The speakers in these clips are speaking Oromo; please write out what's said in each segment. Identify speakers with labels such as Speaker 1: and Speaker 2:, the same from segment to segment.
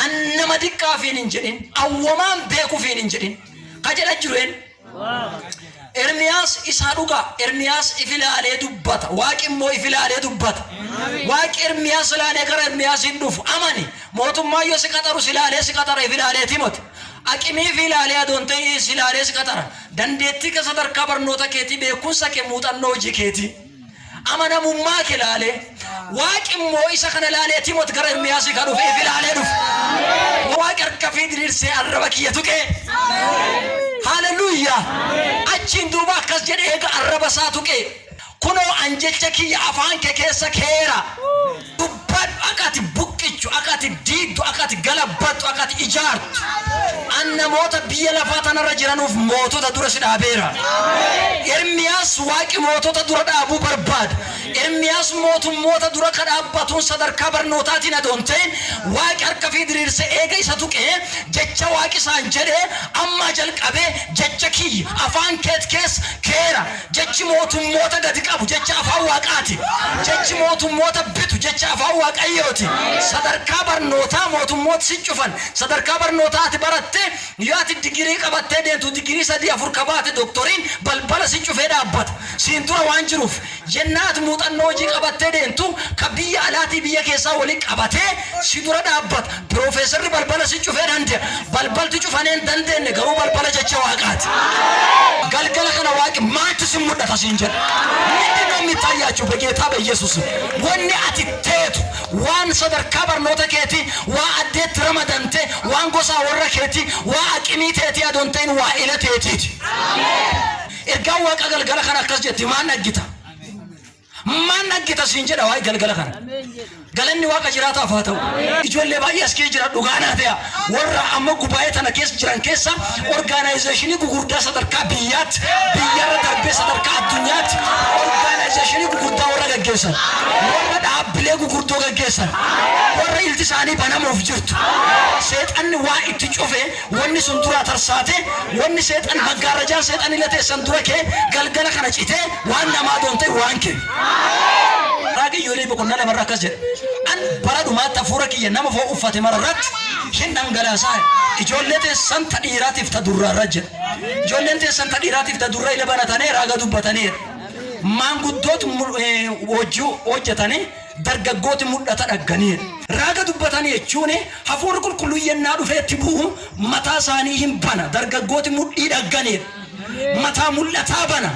Speaker 1: An nama diqqaa fiin hin jedhin, awwamaan beeku fiin hin jedhin. Ka jedha jiru een. Ermiyaas isaa dhugaa. Ermiyaas if ilaalee dubbata. Waaqi immoo if ilaalee dubbata. Waaqi Ermiyaas ilaalee gara Ermiyaas hin dhufu. Amani. Mootummaa yoo si qaxaru si ilaalee si qaxara if ilaalee timoti. Aqimii fi ilaalee adoon ta'ii si ilaalee si qaxara. Dandeettii kee sadarkaa barnoota keetii beekumsa kee muuxannoo hojii keetii. Amanamummaa kee laalee, Waaqi immoo isa kana laalee Timot gara Ermiyaasii ka dhufe ifi laalee dhufe. Waaqi harka ifii diriirsee arraba kiyya tuqee. Haaleluyyaa! Achiin duuba akkas jedhe eega arraba isaa tuqee, Kunoo an jecha kiyya afaan kee keessa keyeera. Dubbadhu, akka ati buqqichu, akka ati diigdu, akka ati galabbattu, akka ati ijaartu. An namoota biyya lafaa tana irra jiranuuf mootota dura si dhaabeera. Ermiyaas Waaqi mootota dura dhaabuu barbaada. Ermiyaas mootummoota dura ka dhaabbatuun sadarkaa barnootaatiin adoo hin ta'in, Waaqi harka ifii diriirsee eega isa tuqee, jecha Waaqi isaan jedhe, Ammaa jalqabee jecha kiyya afaan keeti keessa keyeera, Jechi mootummoota gad qabu jecha Afaan Waaqaati. Jechi mootummoota bitu jecha Afaan Waaqayyooti. Sadarkaa barnootaa mootummoot si cufan. Sadarkaa barnootaa ati baratte yoo ati digirii qabattee deemtu digirii sadii afur ka baate doktoriin balbala si cufee dhaabbata. Siin dura waan jiruuf. Yennaa ati muuxannoo hujii qabattee deemtu ka biyya alaatii biyya keessaa wali qabatee Si dura dhaabbata. Piroofeesarri balbala si cufee dande'a. Balbalti cufanee hin dandeenne garuu balbala jecha Waaqaati. Galgala kana Waaqi maaltu sin mudhata siin jedha? Mindin no mittaayyaachu begeetaa beyyesusi. Wanni ati teetu, waan sadarkaa barnoota keetii, waa addee itti ramadante, waan gosaa worra keetii, waa aqimii teetii adoo hin ta'in waa ila teetiiti. Ergaan Waaqaa galgala kana akkas jetti, maan dhaggita? Maan dhaggeta siin jedha waa'ee galgala kana. Galanni waaqa jiraataaf haa ta'u. Ijoollee baay'ee as keessa jira dhugaa naa ta'e. Warra amma gubaa'ee tana keessa jiran keessa orgaanaayizeeshinii gugurdaa sadarkaa biyyaatti biyyarra darbee sadarkaa addunyaatti orgaanaayizeeshinii gugurdaa warra gaggeessan warra dhaabbilee gugurdoo gaggeessan warra ilti isaanii banamuuf jirtu seexanni waa itti cufee Wonni sun duraa tarsaate, wonni Seexan, maggaarrajaan Seexanille teessan dura keye, galgala kana citee, waan namaa adoon te'e waan keye. Raagi Iyo'eelii boqonnaa 2 irra akkas jedha, Ani bara dhumaatti Hafuura kiyya nama foon uffate mara irratti hin dhangalaasaya, ijoollee teessan ta dhiiraatiif ta durraa irra jedha. Ijoolleen teessan ta dhiiraatiif ta durra'ille banatanee raaga dubbataneera. Maanguddooti mul, ee, hojii hojjatanee. dargaggooti mudhata dhagganiiru. Raaga dubbatani jechuun hafuurri qulqulluun yennaa dhufee itti bu'u mataa isaanii hin bana, dargaggooti mudhii dhagganiiru mataa mul'ataa bana,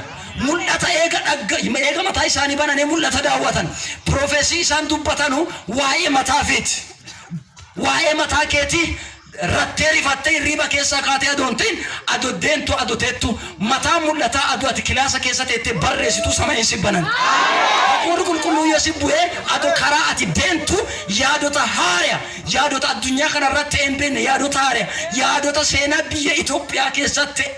Speaker 1: mul'ata eega dhagga, eega mataa isaanii bananee mul'ata daawwatan, prophecy isaan dubbatanu waayee mataa ifiiti, waayee mataa keetii, Rattee rifattee hirriiba keessaa kaatee adoo hin tahin ado deentu ado teettu mataan mul'ataa ado ati kilaasa keessa teettee barreessitu samayiin si banan hafuurri qulqulluun yoo si bu'ee ado karaa ati deentu yaadota haaraya yaadota addunyaa kanarratt ta'ee hin beenne yaadota haaraya yaadota seenaa biyya Itoophiyaa keessatti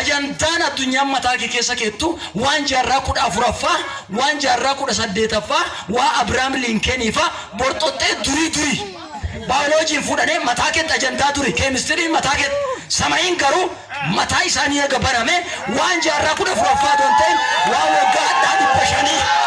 Speaker 1: Ajandaan addunyaan mataa kee keessa keettu waan jaarraa 14ffaa, waan jaarraa 18ffaa, waa Abiraam Liinkeenii faa, borxoxxee durii durii. Baayoloojiin fuudhanee mataa keetti ajandaa duri, keemistiriin mataa keetti. Samayiin garuu mataa isaanii eega banamee waan jaarraa 14ffaa otoo hin ta'in waan waggaa hadhaa 500.